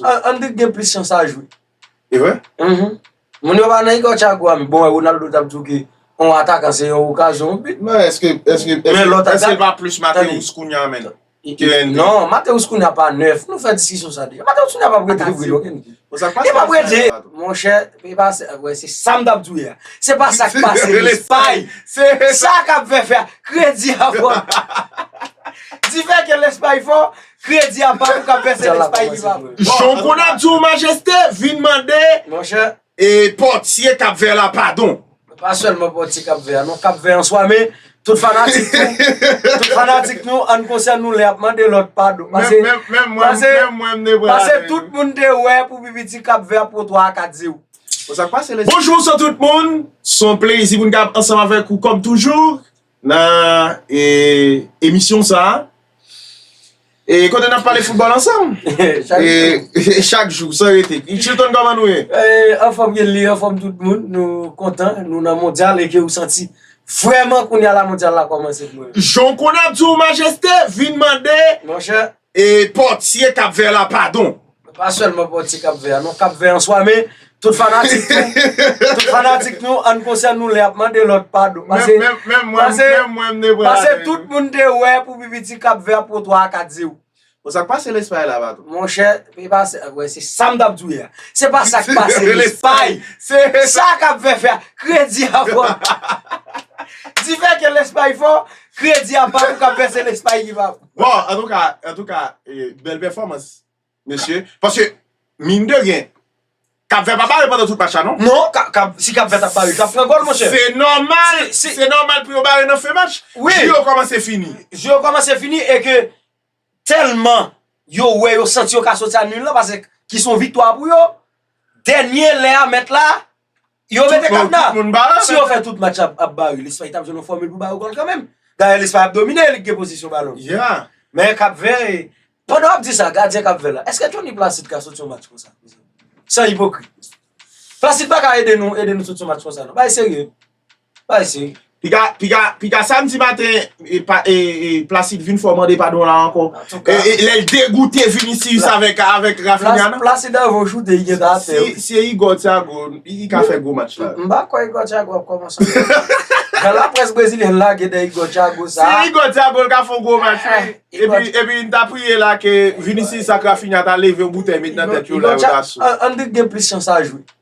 Andrik gen plis chans a jwe. E vre? Mh. Moun yo pa nan Igor Thiago a mi. Bon, Ronaldo t ap di w ke yon atakan se yon okazyon, yon bit. Men eske, eske, eske l pa plis Mateus kounya menn? Non, Mateus kounya pa nèf. Nou fè diskisyon sa deja. Mateus kounya pa p rete nan Brezil okenn kou. Bon, sa k pase an Espay la? Monchè, e pa sa, wè se sa m t ap di w yè a. Se pa sa k pase an Espay. Se sa k ap fè fè a. Kredi a fò. Di fè ke l Espay fò. Kredi a pa pou kap vèse nan Espay viv a bon. Jan konn ap di w majeste vin mande pòtye kap vè la padon. Pa sèlman pòtye kap vè a non kap vè an swa men tout fanatik tou tout fanatik nou an konsyan nou lè ap mande lòt padon pase pase tout moun te wè pou pipiti kap vè a pran 3 a 4 0. Bonjou bonswa tout moun son plezi pou n kap ansanm avèk ou kòm toujou. Nan emisyon sa a, e kote n ap pale foutbòl ansanm, e chak jou san rete. Chilton kòman nou ye? Anfòm Genley, anfòm tout moun, nou kontan, nou nan mondyal e ke ou santi vrèman kounya la mondyal la kòmanse pou nou. Jan w konnen ap di w majeste, vin mande. Monchè. E pòtye kap vè la padon. Pa sèlman pòtye kap vè a non kap vè an swa men tout fanatik nou tout fanatik nou ann konsyan nou lè ap mande lòt padon pase pase tout moun te wè pou pipiti kap vè ap pran 3 a 4 0. Bon sak pase lespay la patron. Monchè e pa se wè se sam tap diw yè a se pa sak pase lespay se sa kap vè fè a kredi a fò difè ke lespay fò kredi a pa pou kap vè se lespay ki pa. Bon, an tou ka, an tou ka, bèl pèfòmans, mesye. Paske, min de ryen, Kap Vèt pa bare pandan tout match la non. Non, si Kap Vèt ap bare, li tap pran gòl, monchè. Se nòmal, se nòmal pou yo bare nan fen match. Wi. Jou yo kòmanse fini. Jou yo kòmanse fini e ke tèlman yo wè yo santi yo ka soti a nul la, paske ki son viktwa pou yo. Dènye lè a mèt la, Yo mete kadna! Si yo fè tout match ap ba yo, Lespay tap jwenn yon fòmil pou ba yo gòl kanmenm. Dayè Lespay ap domine, li k gen pozisyon balon. Men Kap Vè, pandan w ap di sa, gadyen Kap Vè la, eske Tony Placide ka soti yon match konsa? San ipokrit. Placide pa ka ede nou, ede nou soti yon match konsa non. Bagay serye. Bagay serye. Piga piga piga samdi maten e placide vin fò mande padon la ankò lèl degoute vinicius avèk avèk rafinha nan placide anvan ou choute li gentan atè wi si se igor thiago li ka fè gwo match la mpa kwè igor thiago ap kòmanse jan la près brezilyèn lage de igor thiago sa si igor thiago li ka fon gwo match wi epi epi mta priye la ke vinicius ak rafinha ta leve yon boutèy met nan tèt yo la yo ta sou endrick gen plis chans a jwe.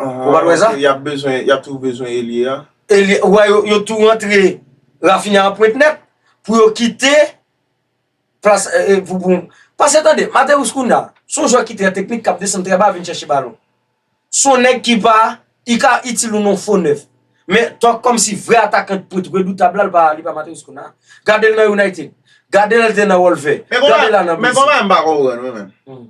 Ou pa t wè sa? Anhan, ok, y ap bezwen, y ap toujou bezwen elye a. Elye, ou wè yo, yo tou rantre Raphinha an pwent nèt pou yo kite plas pou, pou. Pase tande, Matheus Cunha, s on jwè ki trè teknik, k ap desann trè ba vin chèche balon. S on nèg ki pa, li ka itil ou nan yon fo nèf. Men, tòk kòmsi vrè atakan ki pwent redoutab la, li pa, li pa Matheus Cunha. Gade l nan United. Gade lè l te nan Wolver. Gade l la nan Brezil. Men konpa, men konpa m pa konprann mwen menm.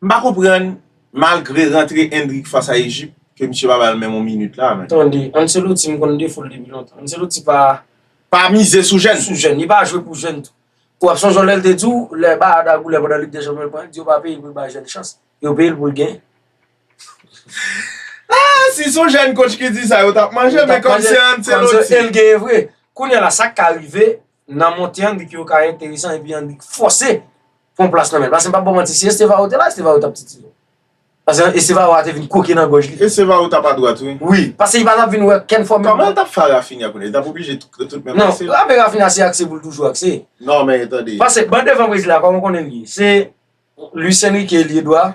M pa konprann, malgre rantre Endrick fas a Ejip, ke misye pa bal menm yon minit la men. Tande, Ancelotti m konn defo l depi lontan. Ancelotti pa. Pa mize sou jèn. Sou jèn. Li pa jwe pou jèn tou. Ou ap sonje yon lè l te di w, lè Bayern ta goulen pandan Lig dè Chanpyon l pran, l di yo pa peye l pou l bay jèn chans. Yo peye l pou l gen. Ah! Si s on jèn kotch ki di sa, yo t ap manje, men kòm se Ancelotti. Yo t ap manje, e l genyen vre. Kounye a la, sa k ka rive? nan monte an li pyo ka enteresan epi an li fòse pran plas nan men l paske m pap baw manti si Estevao te la Estevao tap titile l paske Estevao a te vin kwoke nan gòj li Estevao tap adwat wi wi paske li pa tap vin wè ken fòm li kòman l tap fè a Rafinha kounye li tap oblije tout menm akse l non ape Rafinha se akse pou l toujou akse non men tande paske ban devan Brezil la kòman w konnen l ye se Luis Enrique lye dwa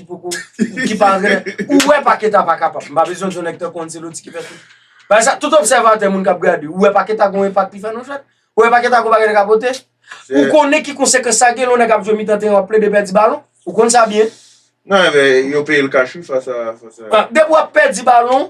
poko ki pa antrenè ou wè paketa pa kapab m pa bezwen di yon nèg tankou anceloti ki fè tout pa ekzanp tout obsèvatè moun kap gade ou wè paketa gon enpak li fè nan jwèt ou wè paketa gon bagay li ka pote ou konnen ki konsekans sa gen lè yon nèg ap jwe mitan teren wap plede pèdi balon ou konn sa byen nan men yo peyel kach wi fas a depi wap pèdi balon.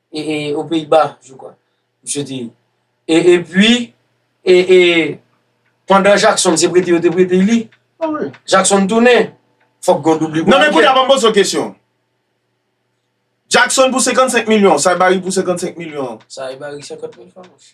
e, e, o Peyiba, je kwa, misye te ye. E, e pwi, e, e, pandan Jakson se prete yo te prete li, Jakson tounen, fòk gon doubli pou Ariel. Non men kounye a banm poze w kesyon. Jakson pou 55 milyon, Saibari pou 55 milyon. Saibari 50 mil fwa mouche.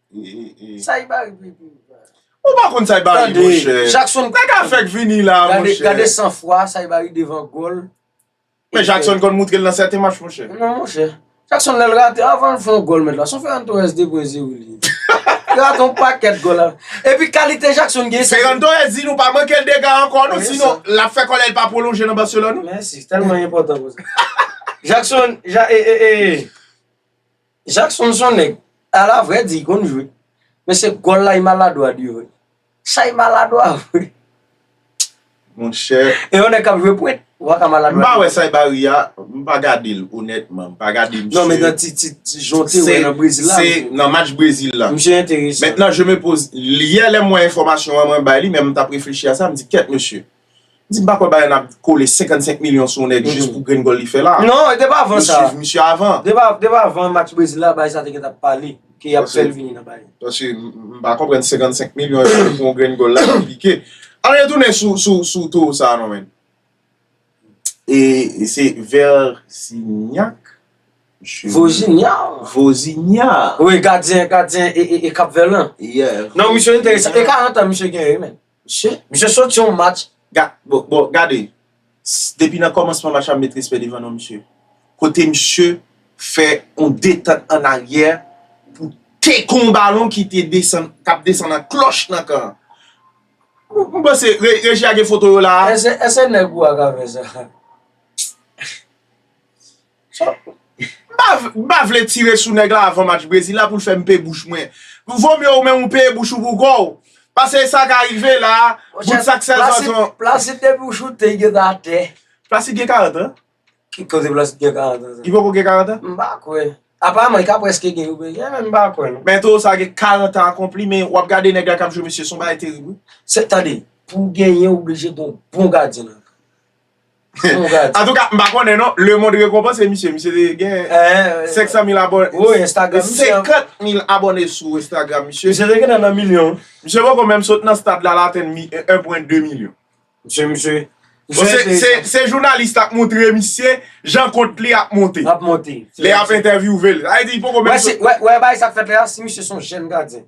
Saibari pou epi ou pran. Ou pa konn Saibari monchè. Tande Jackson. Nèg a fèk vini la monchè. Gade san fwa Saibari devan gòl. Men Jackson konn moutre l nan sèten match monchè. Non monchè. Jackson lè l rate avan l fè yon gòl mèt la. Son Ferran Torres de pwen ze wili. Li rate yon pakèt gòl la. Epi kalite Jackson gen. Ferran Torres di nou pa manke l dega ankò non sinon l ap fè kòlè l pa pwolonje nan Barcelone. Mèsi. Tèlman enpòtan pou sa. Jackson ja e e e e. Jackson son nèg ala vre di konn jwe men se gòl la i maladwa di vre sa i maladwa vre monchè e yon nèg kap jwe pwent ou paka maladwa di vre. M pa wè sa i ba ri a m pa gade l onètman m pa gade misye non men nan ti ti ti jan w te wè nan brezil la se nan match brezil la misye enteresan mètnan je me poze yè lè m wè enfòmasyon an mwen bay li men m tap reflechi a sa m di kèt mesye. Di m pa kwè Bayern ap kole 55 milyon sou yon nèg jis pou grenn gòl li fè la. Non, depi avan sa. Yo swiv misye avan. Depi avan match Brezil la, Barça te gentan pale ke y ap fè l vini nan Bayern. Paske m pa konprann 55 milyon yo pou yon grenn gòl la nan pike. Ann retounen sou towo sa a non men. E se Versignac? Vozinha. Vozinha. Wi, gadyen Cap Vert lan. Yeah. Non, misye enteresan. E 40 an misye genyen wi men. Misye soti yon match bon gade depi nan kòmansman match la m met respè devan non misye kote misye fè yon detant an aryè pou teke yon balon ki te desann k ap desann an klòch nan kan an m panse reji a gen foto yo la a. Ese neg ou a ka fe sa. M pa vle tire sou nèg la avan match Brezil la pou l fè m peye bouch mwen. Vo mye ou menm ou peye bouch ou pou kò w. Pase e sa ka rive la a, bout sak sèl zanzon. Placide depi w choute, yo ta atè. Placide gen 40 an? Ki koze Placide gen 40 an? Li poko gen 40 an? M pa kwè. Aparman li ka preske gen yo pe gen men m pa kwè non. Men towo sa gen 40 an akonpli men w ap gade nèg la k ap jwe mesye s on bagay terib wi. Se tande, pou w genyen w oblije gen yon bon gadyen nan kan. Antouka m pa konnen non Le monde rekonpanse misye Misye te gen 500 mil abone Woy Instagram misye 50 mil abone sou Instagram misye Misye te gentan nan milyon Misye poko menm sot nan stad la l atenn 1 pwen 2 milyon Misye misye Se jounalis la k montre misye Jan kont li ap monte L ap monte Lè y ap entèvyouve l Sa vle di li poko menm sot Wè bagay sa k fèt la si misye son jèn gadyen.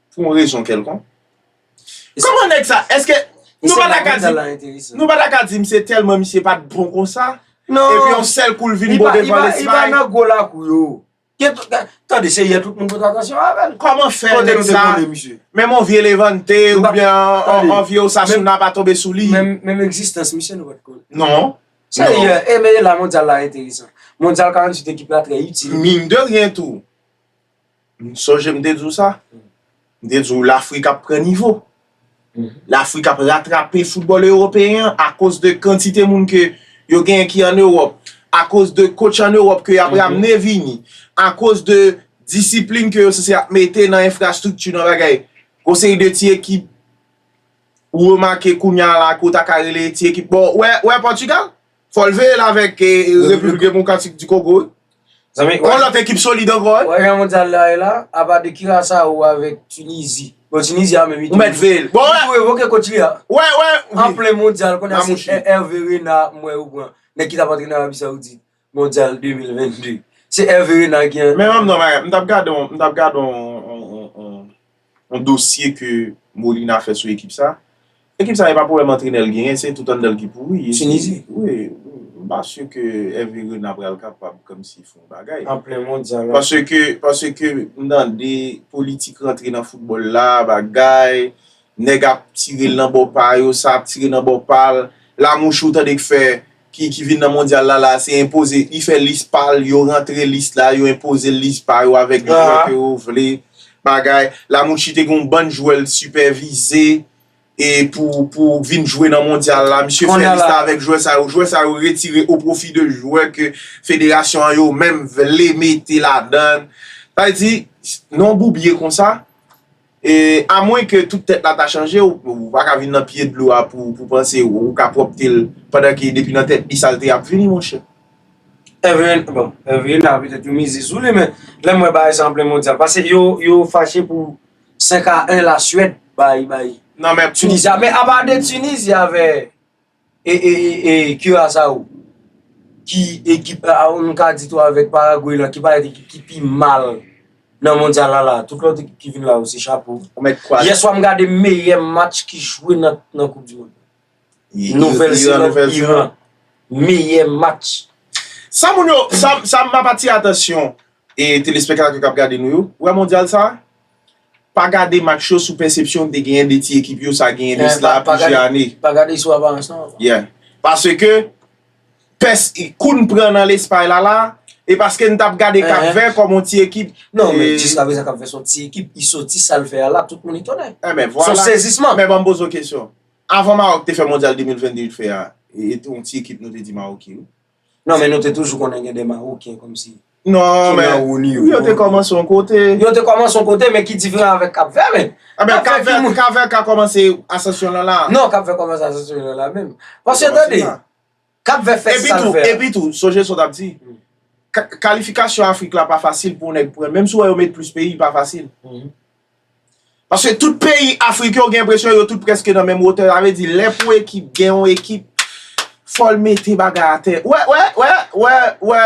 pou yon rezon kèlkonk. Kòman nèg sa, èske nou pa ta ka di, nou pa ta ka di m se tèlman misye pa t bon konsa, epi yon sèl kou l vin bon devan Lesmay? Non, li pa nan gwo lakou yo. Tande, se yè tout moun pote atansyon avè l. Kòman fè nèg sa, menm yon vye Levante oubyen yon vye Osasuna pa tonbe sou li? Menm egzistans misye nou pa t konnen. Non. Se yè, e men e la mondyal la enteresan. Mondyal 48 ekip la trè itil. Min de ryen tou. M sonje m te di w sa. M te di w Lafrik ap pran nivo. Lafrik ap ratrape foutbòl ewopeyen an akoz de kantite moun ke yo genyen ki an Ewòp, akoz de kotch an Ewòp ke y ap ramne vini, akoz de disiplin ke yo sanse ap mete nan enfrastrikti, nan bagay. Gon seri de ti ekip ou remake kounya la ke w ta ka rele ti ekip. Bon, ou wè Pòtigal? Fòl veye l avèk Repiblik Demokratik di Kogo wi. Yon lòt ekip solid ankò wi. Ou wè jan mondyal la ye la, apa de Curaçao avèk Tunisie. Bon Tunisie a menm li tou. Ou mèt veye l. Li tou revoke coach li a. Ou wè, ou wè. An plen mondyal kounya se Hervé Renard m wè yo pran. Nèg ki tap antrene Arabie Saoudite mondyal 2022. Se Hervé Renard ki. Men m ap di w yon bagay, m tap gade yon, m tap gade yon. Yon dosye ke Molina fè sou ekip sa. Ekip sa e pa pwoblèm antrenè l genyen, se tout anndan l ki pouri. Tinizi? Wi. M pa si ke Hervé Renard pral kapab kòmsi fè yon bagay. An plen mondyal la. Paske, paske m tande politik rantre nan foutbòl la, bagay, nèg ap tire l nan bò pa yo, sa ap tire nan bò pa l. Lamouche ou tande k fè. ki vin nan mondyal la la se enpoze li fè lis pal yo rantre lis la yo enpozel lis pa yo avèk jwè ke yo vle bagay Lamouchi te gen yon bann jwè l t sipèvize e pou pou vin jwe nan mondyal la misye fè lis la avèk jwè sa yo jwè sa yo retire o pwofi de jwè ke federasyon an yo menm vle mete ladann sa vle di non boubye konsa. E a mwen ke tout tèt la ta chanje ou pa ka vin nan pye dlo a pou ou panse ou ka pwòpte l pandan ke depi nan tèt li salte ap vini monchè. Evelyn, bon, Evelyn la petèt yo mize sou li men lè m wè bagay sa an plen mondyal pase yo yo fache pou 5 a 1 la Suède bay bay Tunisia men apa de Tunisia avè. E e e e Curaçao ki ekip nou ka di tou avèk Paraguay lan ki parèt ekip ki pi mal nan mondyal la la. Tout lòt ekip ki vin la yo se chapo. Ou mèt kwa? Yè swa m gade meyè match ki jwe nan koup di mond. Nouvèl Zeland Iran. Meyè match. Sa moun yo, sa m ap atire atansyon e telespektatè k ap gade nou yo, wè mondyal sa, Pa gade match yo sou pèsepsyon ou te genyen de ti ekip yo sa genyen de sla plizyè ane. Pa gade sou aparans non. Yeah. Paske, pès kou n pran nan Lespay la la, e paske n t ap gade Kap Vè kòm yon ti ekip. Non, men jiskaprezan Kap Vè s on ti ekip, li soti sa l fè a la, tout moun etone. Enben, vwala. S on sezisman. Men ban m poze w kesyon. Avan Mawòk te fè Mondyal 2022 l t fè a, e t on ti ekip nou te di Mawòk ye wi. Non men nou te toujou konnen gen de maroken kom si. Non men, yo te komanse yon kote. Yo te komanse yon kote men ki diferan avèk kap vè men. A men kap vè, kap vè ka komanse asansyon lan la. Non kap vè komanse asansyon lan la menm. Paske tande, kap vè fè sa l fè. E pi tou, sonje sa w tap di. Kalifikasyon afrik la pa fasil pou yon nèg pran. Menm si w wè yo met plis peyi pa fasil. Paske tout peyi Afrik yo gen enpresyon yo tout preske nan menm wotè. Sa vle di lè pou ekip gen yon ekip fò l mete bagay atè. Ou wè, ou wè, ou wè, ou wè, ou wè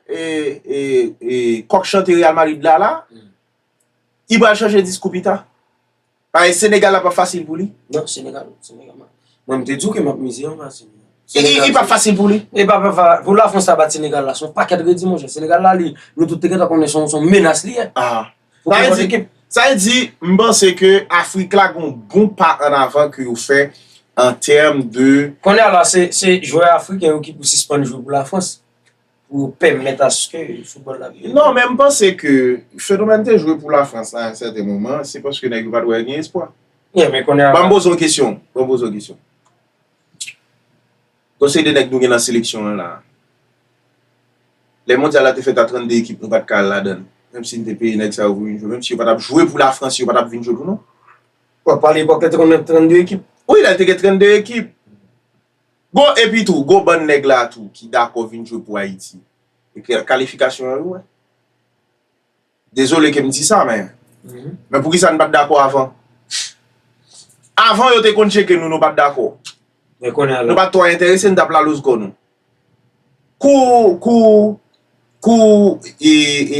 e, e, e kòk chante Real Madrid la la. Li pral chanje diskou pita. Paske Senegal la pap fasil pou li. Non, Senegal, Senegal mwen. Mwen m te di w ke m ap mize yon match. Li pap fasil pou li. Li pap fasil. Pou la Frans sa bat Senegal la, son pakèt redi monchè. Senegal la li, nou tout te gentan konnen son menas li ye. Aa. Sa e di, m panse ke Afrik la gon bon pa an avan ke yo fè an tèm de... Konnya la, se jwè Afriken yo ki pou sispann jwe pou la Frans, pou yo pèmèt aske foutbòl la vin... Non, men m panse ke fenomèn te jwe pou la Frans la yon sèten moman, se paske nèg yo pat wè gen espwa. Ban m poze yon kesyon, ban m poze yon kesyon. Gon seri de nèg nou gen nan seleksyon an la. Lè mondyal la te fèt a 32 ekip nou pat ka al ladan l. Menm si n te peye nèg sa yo pou vin jwe. Menm si yo pa tap jwe pou lafrans yo pa tap vin jwe pou nou. Bon pa lepòk la te konn gen 32 ekip. Wi la te gen 32 ekip. Bon epi tou gon bann nèg la tou ki dakò vin jwe pou ayiti. Kalifikasyon an yo wè. Dezole ke m di sa men. Men poukisa n pa t dakò avan? Avan yo te konn tcheke nou nou pa t dakò. Men kounye a la. Nou pa t twò enterese n t ap la louzko nou. Kou kou kou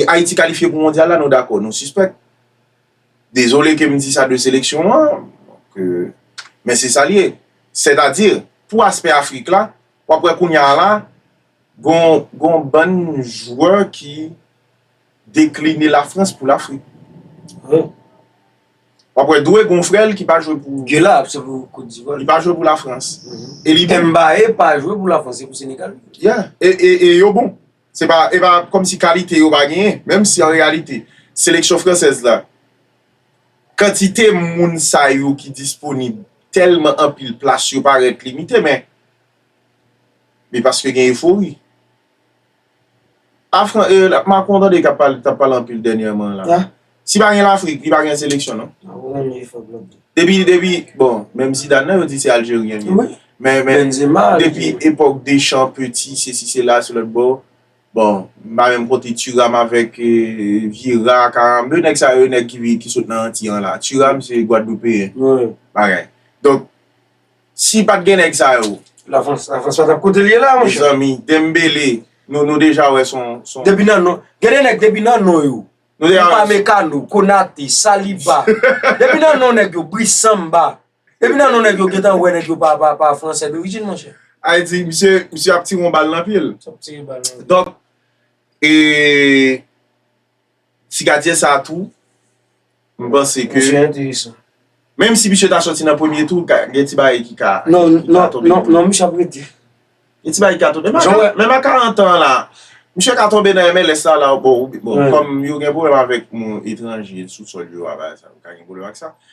Ayiti kalifye pou mondyal la nou dakò nou sispèk. Dezole ke m di sa de seleksyon an ke men se sa l ye. Sètadi pou aspè Afrik la w ap wè kounye a la gon bann jwè ki Dekline la France pou l'Afrique. Hum. Wap wè dwe gon frèl ki pa jwe pou. Ke la ap se pou Cote d'Ivoire. Li pa jwe pou la France. E li bon. Mbaye pa jwe pou la France se pou Senegal li jwe. Yeah. E yo bon. Se pa e pa kòm si kalite yo pa genyen. Menm si an reyalite seleksyon fransèz la kantite moun sa yo ki disponib tèlman anpil plas yo parèt limite men. Men paske gen efori. Afran e Macron tande kap pale tap pale anpil dènyèman an la. Si pa gen lafrik li pa gen seleksyon non. Depi depi bon menm Zidane nan yo di se aljeryen li ye. Men men depi epòk Deschamps, Petit sesi sela sou lòt bò. Bon m pa menm konte Thuram avèk Vieira, Karambeu nèg sa yo nèg ki sot nan anti an la. Thuram se gwadloupeyen. Bagay. Donk. Si pat gen nèg sa yo. La France la France pa tap kotel ye la monchè. Mezanmi Dembele nou nou deja wè son son. Depi nan non gen de nèg depi nan non yo. Nou deja wè. Upamecano, Konate, Saliba depi nan non nèg yo Brice Samba depi nan non nèg yo gentan wè nèg yo pa pa pa fransè dorijin monchè. Haiti misye misye ap tire yon bal nan pyel. Donk e. Ti gadyen sa tou m panse ke Misye enteresan. Menm si misye ta soti nan premye tou ka gen ti bagay ki ka Non non non non misye ap rete. Gen ti bagay ki ka tonbe Jan wè menm a 40 ans la misye ka tonbe nan MLS la la bon bon kòm yo gen pwoblèm avèk moun etranje sou sòl yo a bagay sa yo ka gen pwoblèm ak sa.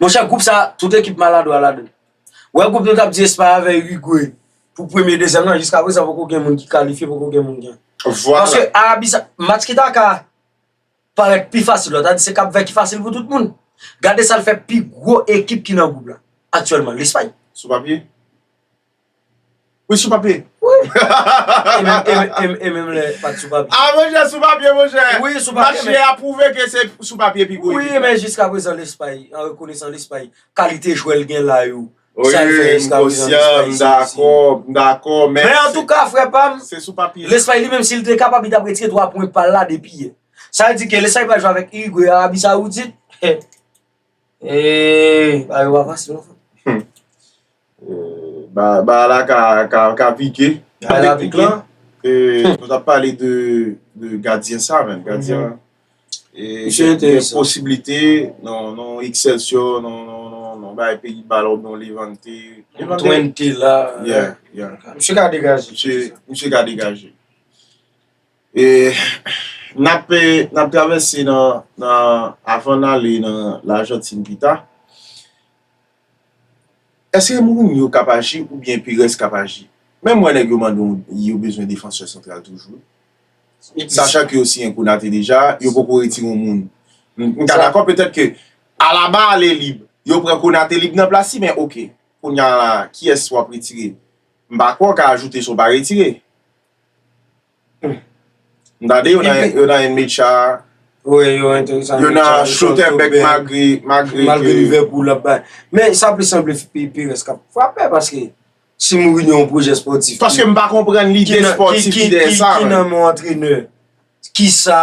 Monchè group sa tout ekip maladwa ladann. Wè group nou tap di Espay avè Uruguay pou premye dezyèm nan jiska prezan poko gen moun ki kalifye poko gen moun gen. Paske Arabi sa match ki ta ka parèt pi fasil la ta di se kap vè ki fasil pou tout moun. Gade sal fè pi gwo ekip ki nan group la aktyèlman Lespay. Sou papye. Wi sou papye. E menm lè pat sou papye. A monchè sou papye monchè. Wi sou papye. Match yè a pwouve ke se sou papye pi gwo ekip la. Wi men jiskaprezan Lespay an rekonesan Lespay kalite jwè l gen la yo. Wi m konsyan m dakò m dakò men. Men antouka frè pa m. Se sou papye. Lespay li menm si l te kapab li tap retire 3 pwen pa l la depi yè. Sa vle di ke Lespay pral jwe avèk Irigwe, Arabi Sawoudit. Bagay yo pa fasil non frè. Bagay la ka pike. Bagay la pike. Nou tap pale de gadyen sa men. Gadyen an. Misye te yon posibilite nan Excelsior, nan bagay peyi ba la ou nan Levante. Twente la. Yeah, yeah. Misye ka degaje. Misye ka degaje. E nap nap travèse nan nan avan n ale nan lajantin pita eske mourinho kap aji oubyen perez kap aji menm wè nèg yo mande yon yo bezwen defansè santral toujou wi sachan ke yo siyen konate deja yo poko retire yon moun m ka dakò petèt ke alaba ale lib yo pran konate lib nan plas li men ok kounya la kiyès wap retire m pa kwè w ka ajoute sa w pa retire M ta di yo nan yon mecha. Wi yo enteresan. Yo nan chotè bèk magri. Malgre Liverpool ap bay. Men sa plis sanble Perez k ap frape paske si Mourinho yon pwojè spòtif. Paske m pa konprann lide spòtif dèyè sa. Ki nan men yon antrenè. Ki sa.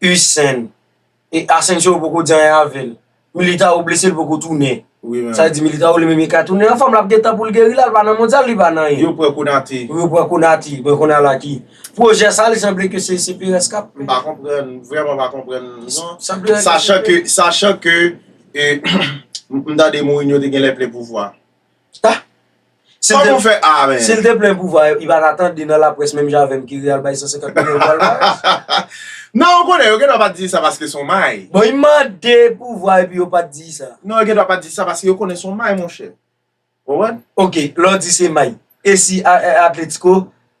Usain e Asensio poko di anyen avèl. Militao blese li poko tounen. Sa vle di Militao li menm e ka tounen anfòm lap gen tan poul geri la, li pa nan mondyal li pa nan anyen. Yo pran Konate. Yo pran Konate, mwen konn al a ki pwojè sa li sanble ke se Perez kap. M pa konprann, m vrèman pa konprann non. Sachan ke, sachan ke m tande Mourinho te genlè plen pouvwa. Ah! Kòman ou fè ah men? Sil te plen pouvwa yo, li pa ta tande nan laprès menm jan avèm ki ri al bay 150 milyon pou palmarès? Non, ou konnen, yo gendwa pa t di sa paske son may. Bon, li mande pouvwa epi yo pa t di sa? Non, yo gendwa pa t di sa paske yo konnen son may monchè. Ou konprann? Ok, lè w di se may, e si Atletico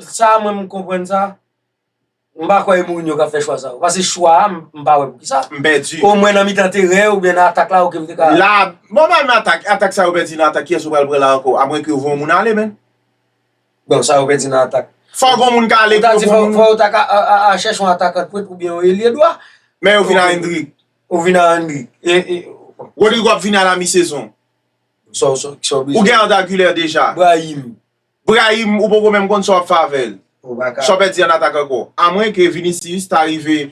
Sa mwen m konprann sa, m pa kwè e Mourinho k ap fè chwa sa yo. Pase chwa a, m pa wè poukisa. M pèdi. Omwen nan mitan teren an oubyen nan atak la ok m te ka. La, bon pa nan atak, atak sa yo pèdi nan atak kiyès ou pral pran la ankò? Amwenke yo voye yon moun ale menn. Bon, sa yo pèdi nan atak. Fòk yon moun ka ale. Ou ta di fòk yo ta ka al chèche yon atakan dpwent oubyen yon elye dwa. Men yo vin a Endrick. Yo vin a Endrick. E. Rodrygo ap vini a la mi sezon. Sa w, sa w bliye. Ou gen Arda Güler deja. Brahim. Brahim ou poko menm konn sa wap fè avèl. Sa w pèdi an atak ankò. A mwen ke Vinicius ta rive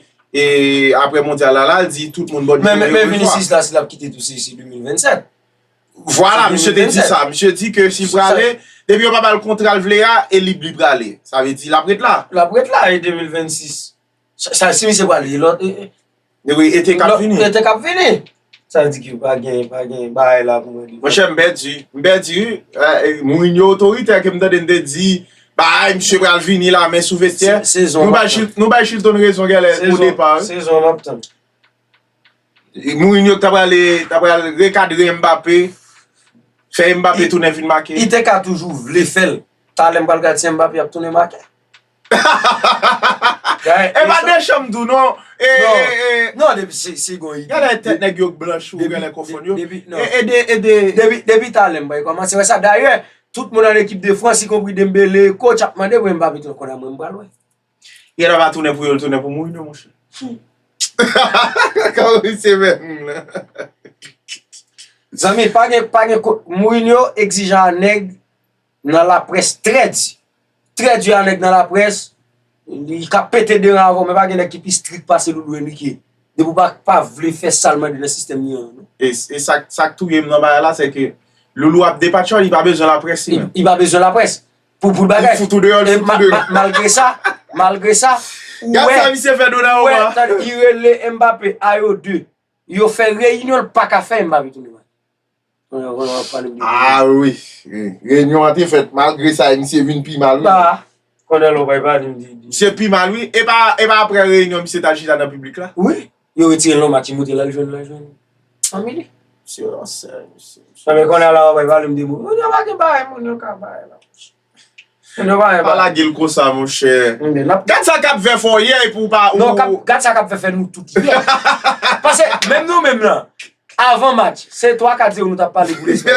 aprè mondyal la lal di tout moun bòdye yo. Men Vinicius la si lap kite tou se 2027. Vwala misye te di sa. Misye di ke si l prale depi yo pa bal kontra l vle a e lib li prale. Sa vle di lap ret la. Lap ret la e 2026. Sa si misye pral li lòt. Epi ete kap vini. Ete kap vini. Sa vle di ki pa gen, pa gen bagay la pou mwen. Mwen chè m pèdi. M pèdi. Moun yo otoritè ke m tande n te di. Ba a misye pral vini la men sou vestè. Sezon. Nou bay Chilton rezon gèlè pou depa. Sezon map tann. Moun yo ta pral, ta pral rekadre Mbappé. Fè Mbappé tounen vin make. Ete ka toujou vle fèl. Talè m pral gad si Mbappé ap tounen make. E pa de chanm tou non. Non depi si gon ide. Gade tèt nèg yo k blanch ou genlè konfonn yo. Depi talè m bay kòmanse wè sa. Dayè tout moun an ekip de frans ikonpri Dembele, coach ap mande mwen Mbappe tou konn mwen pral wè. Yè la pa tounen pou yo l tounen pou Mourinho monchè. Kòman li se menm moun la. Zanmi pa gen Mourinho egzijan a nèg. Nan la près trè di. Trè di a nèg nan la près, li ka pete de ran avè w men pa gen nèg ki pi strik pase Loulou e Mikie. Depi w pa vle fè sa l mande nan sistèm li an. E sa k touye m nan bagay la se ke Loulou ap depatchòl, li pa bezwen la près li menm. Li pa bezwen la près. Pou l bagay. Li fout ou deyò, li fout ou deyò. E malgre sa, malgre sa, ou wè. Gad sa misye fè Donnarumma. Ou wè, tande, li rele Mbappé, a yo 2. Yo fè reyinyon l pa ka fè Mbappé tounen. Ah wi, renyon an te fèt mal, gre sa e misye vin pi mal wi. Misye pi mal wi, e pa apre renyon misye tal chita nan piblik la? Wi, yo retire l nan matimote lal jwenn fanmi li. Misye ransè misye. Nan men konnen la wap bay valem de moun. Moun yo pa gen bagay moun yo ka bay la. Pa lage l konsa monchè. Gad sa kap vè fè w yè epi w pa. Non gad sa kap vè fè nou tout yè. Pase menm nou menm lan avan match se 3 4 0 nou tap pale pou Lespay.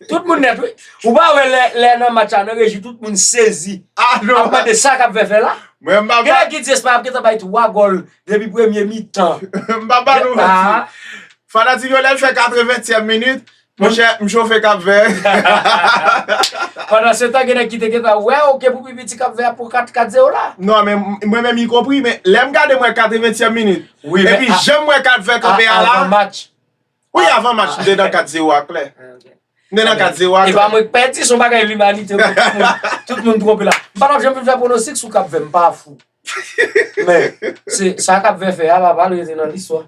Tout moun nèt wi. Ou pa wè lè nan match la nan reji tout moun sezi ap mande sa kap vè fè la. Gen lè ki di Espay ap gentan bay 3 gòl depi premye mitan. M pa ba nou manti. Fanatik yo lè l fè 80 tyèm minit Mon chè, m chofe Kap Vè. Pandan se tan gen nèg ki te gentan wè w ke pou pi piti Kap Vè a pou 4, 4 0 la. Non men mwen menm y konpri men lè m gade m wè 80 tièm minit. Wi men. Epi jan m wè Kap Vè kanpe a la. Avan match. Wi avan match m te nan 4 0 a klè. M te nan 4 0 a klè. Epa mwen k pè di son bagay limanite m wè tout moun tout moun twonpe la. M pa tap janm vin fè pwonostik sou Kap Vè m pa fou. Men se sa Kap Vè fè a pa pral rete nan listwa.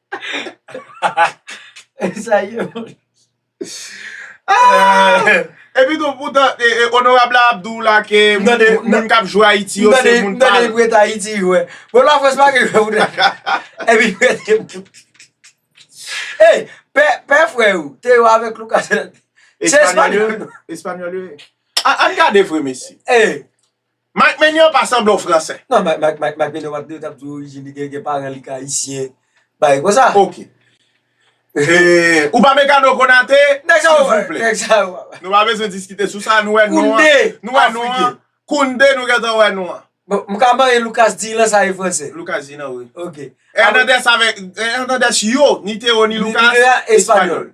Sa ye moun. E pi tou pou tan onorab la ap di w la ke moun k ap jwe Ayiti yo se moun pa l. M tande li prete Ayiti jwe. Bon la Frans pa gen jwe pou tèt la. E pi prete moun. Ey, pè frè ou te yo avèk Lucas Hernandez. Se Espanyòl yo ye. Espanyòl yo ye. An gade vre mesye. Ey. Mike Maignan pa sanble yon fransè. Non Mike Mike Mike Mike Maignan wap di yo tap di orijin li gen gen paran li ki ayisyen bagay konsa. Ok Ou pa Mécano Konaté Nèg sa yo wè Nèg sa yo wè Nou pa bezwen diskite sou sa nou wè non an Nou wè non an Kounde nou gentan wè non an Bon m ka marye Lucas Digne lan sa e fransè Lucas Digne lan wi Ok Hernandez avèk Hernandez yo ni Théo ni Lucas espanyòl.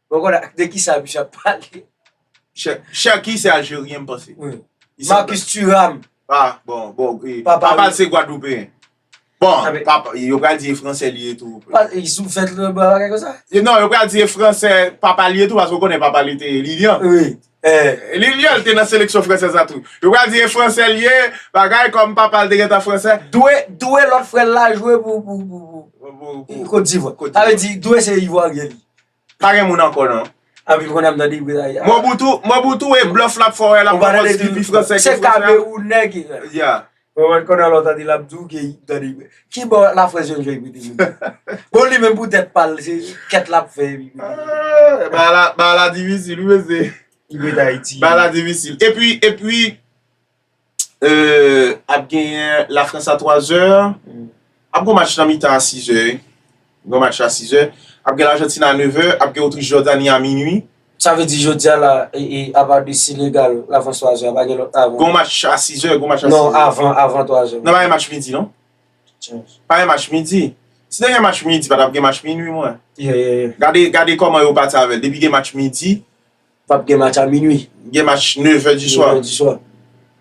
Bon koda de kisa misye ap pale. Cherki se aljeryen m panse. Marcus Thuram. A bon bon. Papa l se gwadloupeyen. Bon papa yo pral di e fransè li ye tou. Li sou fèt l bwa bagay konsa. Non yo pral di e fransè papa l ye tou paske w konnen papa l te lilyan. Eh li li al te nan seleksyon fransèz la tou. Yo pral di e fransè li ye, bagay kòm papal te gentan fransè. Dwe, Dwe lòt frè l la jwe pou pou pou Kot Divwa. Sa vle di Dwe se Ivwaryen li. Pa gen moun ankò non. Anpil konn ap tande Ibra ya. Mobutu, Mobutu e blòf lap fè w wè lap pwopòz ki pi fransè ke fransè. Se Kamerounè ki. Yeah. Mwen wè konnen lòt ane lap di w gen yp tande yp. Ki bò la frans jwenn fè yp rete jodia. Bon li menm pou tèt pa l se kèt lap fè epi pou li rete. Bagay la difisil wi mesye. Yp rete ayiti. Bagay la difisil. Epi epi euh ap genyen la frans a 3 zè. Ap gon match nan mitan a 6 è wi. Gon match la 6 è. Ap gen Lajantin a 9 è. Ap gen Otrich Jòdani a minui. Sa vle di jodi a la e apa de Senegal lavan 3 zè a pa gen lòt avan. Gon match a 6 è. Gon match a 6 è. Non avan avan 3 zè. Non pa gen match midi non. Pa gen match midi. Si te gen match midi pa tap gen match minui mwen. Ye ye ye. Gade gade kòman yo pati avèl. Depi gen match midi. Pap gen match a minwi. Gen match nevè di swa. Nevè di swa.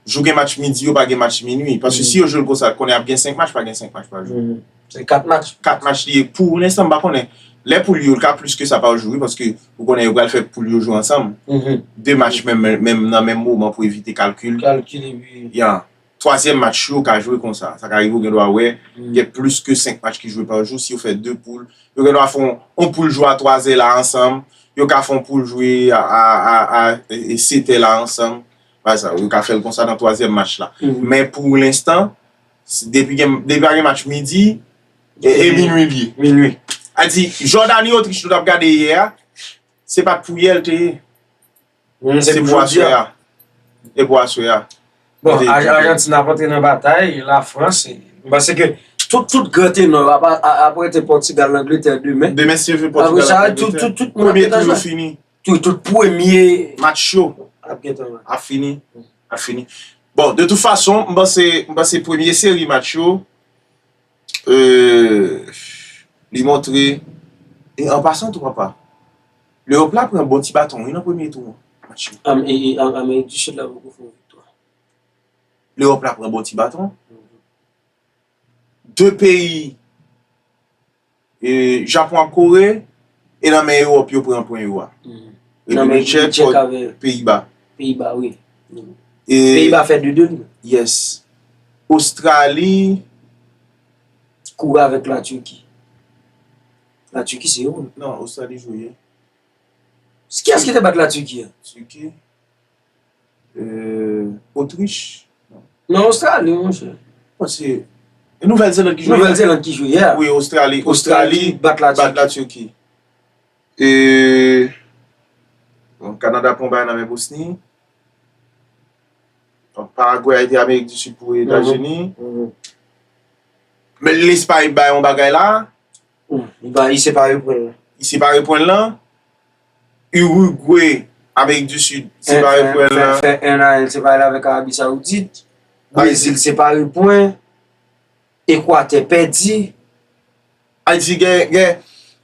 Jou gen match midi yo pa gen match minwi. Paske si yo jwe l konsa, konnen ap gen 5 match, pa gen 5 match pa jou. Se 4 match. 4 match li ye. Pou lenstan m pa konnen. Lè poul yo, l ka plis ke sa pa jou wi. Paske ou konnen yo pral fè poul yo jwe ansanm. 2 match menm nan menm moman pou evite kalkil. Kalkil epi. Ya. Twazyèm match yo ka jwe konsa. Sa ka rive ou gendwa wè gen plis ke senk match ki jwe pa jou. Si yo fè de poul, yo gendwa fè yon poul jwe a twazè la ansanm. Yo ka fè yon poul jwe a setè la ansanm. Yo ka fè l konsa nan twazyèm match la. Men pou lenstan, depi pa gen match midi, e minui l ye. Minui. A di, Jòdani-Otrich nou t ap gade yè a, se pa t pou yè l te ye. Humm se pou jodi a. Se pou aswe a. Bon Argentine ap antre nan batay, la France, m panse ke tout gran tenò yo ap rete Portugal Angleterre demen. Demen si yo jwe Portugal ak Angleterre. Apre sa tout moun ap gen tan jwe. Premye tour yo fini. Tout premye match yo ap gen tan jwe. Ap fini. Ap fini. Bon de tout fason m panse premye seri match yo. Li montre E an pasan tou papa L'Europe la pran bon ti baton wi nan premye tou an Amerik di Sid la poko fè yon viktwa L'Europe la pran bon ti baton 2 peyi Japon ak kore e nan men ewop yo pran pwen yo a repiblik tchek ak peyiba peyiba wi peyiba fè de 2 wi yes ostrali koure avèk la turki la turki se yo nan ostrali jwe kiyès ki te bat la turki turki Otrich. Nan Ostrali monchè. Mwen se. E Nouvèl Zeland ki jwe yè. Nouvèl Zeland ki jwe yè. Wi Ostrali. Ostrali bat la Turki. Bat la Turki. E. Bon Kanada pran bay nan men Bosni. Bon Paragwe a ede Amerik di Sid pou Etazini. Men Lespay bay yon bagay la. Li pa i separe pwen lan. I separe pwen lan. Urugwe, Amerik di Sid, separe pwen lan. Fè 1 a, li separe l avèk Arabi Saoudit. Brezil separe pwen. Ekwatè pèdi. Ayiti gen.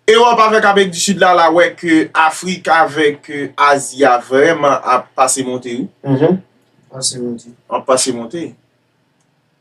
Ewòp avèk Amerik di Sid la, la wè ke Afrik avèk Azi a vrèman ap pase monte wi. Ap pase monte. Ap pase monte.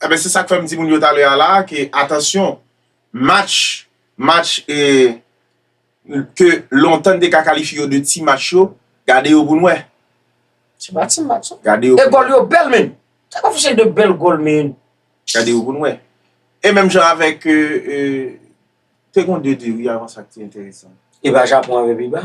Enben se sak fè m di moun yo talè a la a ke atansyon match match e ke lontan n te ka kalifye yo de ti match yo gade yo pou n wè. Se pa ti match non. Gade yo pou n wè. E gòl yo bèl menn. Sa pa fè se de bèl gòl menn. Gade yo pou n wè. E menm jan avèk e te gon 2 2 wi avan sa ki te enteresan. E ba Japon avèk Biba.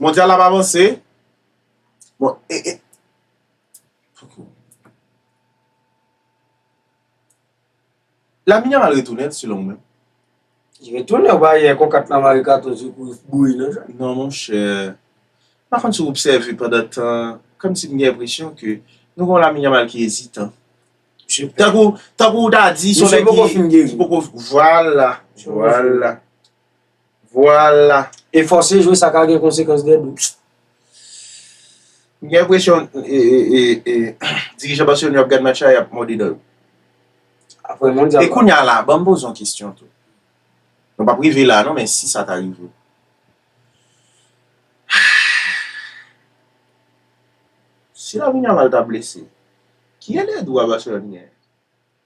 Mondyal la ap avanse. Bon e e. Lamine Yamal retounen selon ou menm? Li retounen ou pa yè kon 4 la mare katon sou kou bouri nan jwè? Non mon chè. Pa konn si w obsève pandan tan kòm si m gen enpresyon ke nou gen yon Lamine Yamal ki ezitan. Tankou tankou w ta di son nèg ki poko vwala vwala. Vwala! E fòse jwe sa ka gen konsekans dè bò. M gen enpresyon dirijan Barcelone yo ap gad match la yap mòde dan yo. Aprè mondyal la. E kounya la, banm poze yon kesyon tou. Nou pap rive la non men si sa ta rive. Si Lamine Yamal ta blese, ki elèdwa Barcelone genyen?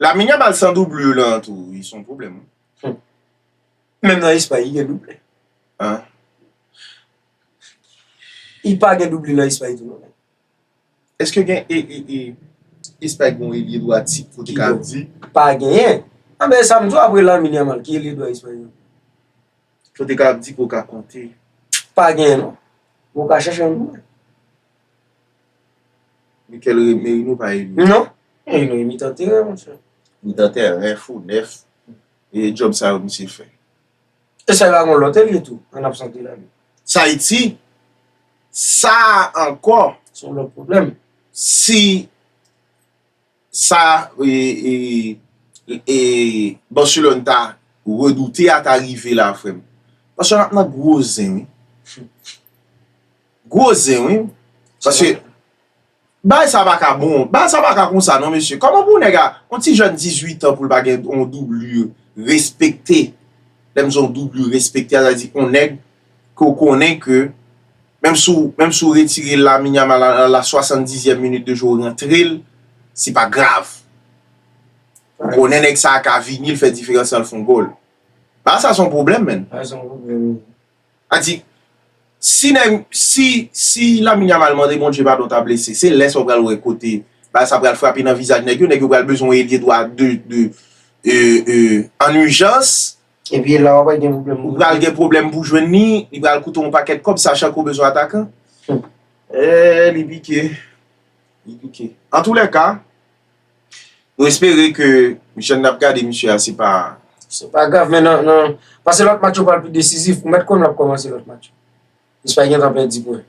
Lamine Yamal san doublure lan tou wi son pwoblèm wi. Humm menm nan espay li gen double. An. Li pa gen double nan espay tou non. Eske gen e e e espay gen yon elye dwa tip pou te ka di. Pa genyen. An men sa m di w apre Lamine Yamal ki elye dwa espay yo. Pou te ka ap di pou ka konte. Pa genyen non. Bon w ka chèche yon pou mwen. Mikel re Merinou pa emi. Non, Merinou e mitan teren mon chè. Mitan teren, fo nèf. E djòb sa yo misye fè. E sa yo a gon lòt elye tou an absans de Lamine. Sa e di, sa a ankò. Se yon lòt pwoblèm. Si. Sa Barcelone ta redoute a ta rive la frè m. Barcelone ap nan gwo zen wi. Gwo zen wi. Paske bagay sa pa ka bon. Bagay sa pa ka konsa non mesye. Kòman pou nèg a, yon ti jèn 18 an pou l pa gen yon doublure respekte. Lè m di yon doublure respekte a sa vle di yon nèg ke w konnen ke menm si w menm si w retire l Lamine Yamal a la swasandizyèm minit de jwe w rantre l se pa grav ou konnen nèg sa a ka vini l fè diferans lan l fè yon gòl Bal sa se yon pwoblèm menn sa di si nèg si si Lamine Yamal mande Bondye padon ta blese se lè sa w pral wè kote bal sa pral frape nan vizaj nèg yo nèg yo pral bezwen yon elye dwa de de en urgence Epi la wap gen problem pou. Ou pral gen problem pou jwenn li, li pral koute w yon pakèt kòb sachan ke w bezwen atakan. Eeh li pike. Li pike. Antoulèka, nou espere ke jan n ap gade misye a se pa. Se pa grav men nan nan pase lòt match yo pral pi desizif. Ou mèt konn lap kòmanse lòt match yo. Espay gentan pèdi pwen.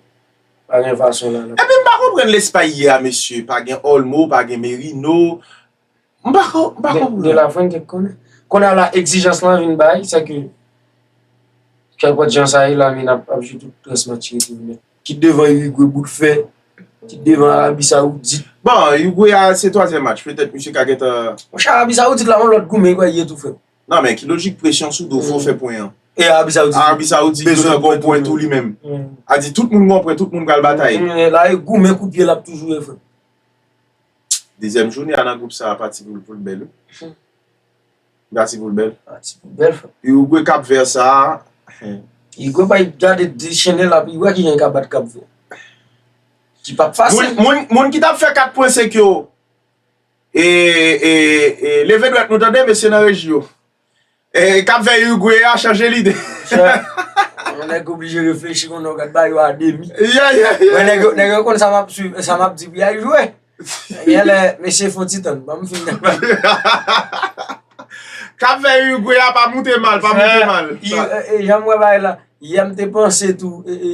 Pa gen fason la. Epi m pa konprann Lespay yè a mesye. Pa gen Olmo, pa gen Merino. M pa konprann. De la Fuente k konnen. Kounye a la egzijans lan vin bay, se ke kèlpòt jan sa ye Lamine ap jwe tout rès match yo tou nèt. Kit devan Uruguay bout fè, kit devan Arabie Saoudite. Bon, Uruguay a se twazyèm match, petèt misye ka gentan. Monchè Arabie Saoudite la yon lòt gou men li kwè li ye tou frè. Nan men ki lojik presyon sou do w fò w fè pwen an. E Arabie Saoudite. Arabie Saoudite bezwen gòw pwen tou li menm. A di tout moun gòw pwen, tout moun pral bataye. La e gou men kout pye l ap toujou ye frè. Dezyèm joune a nan gwoup sa a pa ti poul poul bèl wi. Li pa ti poul bèl. Li pa ti poul bèl frè. Uruguay Cap Vert sa a. Uruguay bay gade dechennen la pou wè kijan li ka bat Cap Vert. Ki pap fasil. Moun ki tap fè 4 pwen se k yo. E leve dwèt nou tande mesye nan reji yo. Eh kap fè Uruguay a chanje lide. Yon nèg oblije reflechi kon nou gad ba yo a demi. Yeah, yeah, yeah. Mwen nèg yo, nèg yo kon sa map suiv, sa map di pou yal jwe. Gen lè, mesye fon ti tan, banm fin nan ba. Kap fè Uruguay a pa moute mal, pa moute mal. Sa. E, e, e, janm wè bay la, yè m te panse tou, e, e.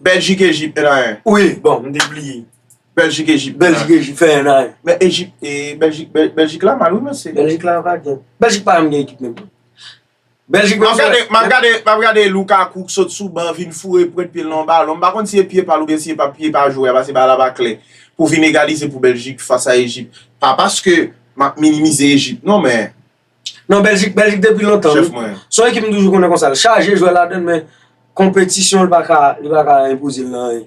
Bèljik Ejip 1 a 1. Wi bon m te bliye. Bèljik Ejip. Bèljik Ejip fè 1 a 1. Men Ejip e Bèljik Bèljik la mal wi mesye. Bèljik la pa gen. Bèljik pa janm gen ekip menm tou. Bèljik menm se. Map gade map gade Lukaku k sot sou ban vin foure pwent pye l nan yon balon m pa konn si e pye pa l oubyen si e pa pye pa jwè a pase bal la pa klè pou vin egalize pou Bèljik fas a Ejip. Pa paske map minimize Ejip non men. Non Belgique Belgique depi lontan wi. Chef mwen. Son ekip m toujou konnen konsa l chaje jwè ladann men konpetisyon li pa ka li pa ka enpoze l nan anyen.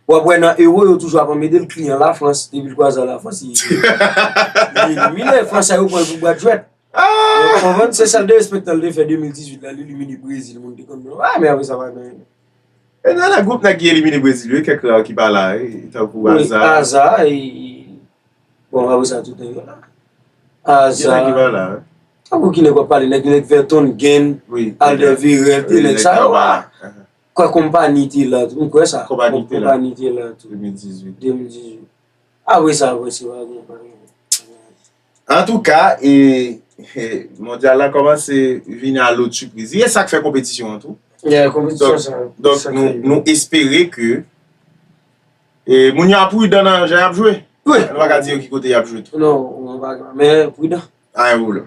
Wap wè nan Euro yo toujou ap anmede l kliyan la France depi l kwaze a la France li li elimine fransè yo pran l pou bwat jwèt. Ou konprann se sèl derespektan l te fè 2018 la l elimine Brésil moun te konn wè l ah men apresa pa gen anyen. E nan group nèg ki elimine Brésil yo gen kèk rare ki pa la wi tankou Hazard. Hazard e. Bon wap wesa tout nèg yo la. Aza. Gen nèg ki pa la wi. Tankou ki nèg wap pale nèg nèg vètonn gen. Wi. Albert virel tout nèg sa yo la. Kwè konpani te la tou. M kwè sa. Konpani te la. Konpani te la tou. 2018. 2018. Apre sa apre se pa gen anyen. Antouka e mondyal la kòmanse vini a lòt sipriz. Li e sak fè konpetisyon an tou. Yè konpetisyon sa. Donk nou espere ke. E moun yo a prudan nan jan yap jwe? Wi. Nou pa ka di yo ki kote yap jwe tou. Non, mwen pa ka, men prudan. Anyen pwoblèm.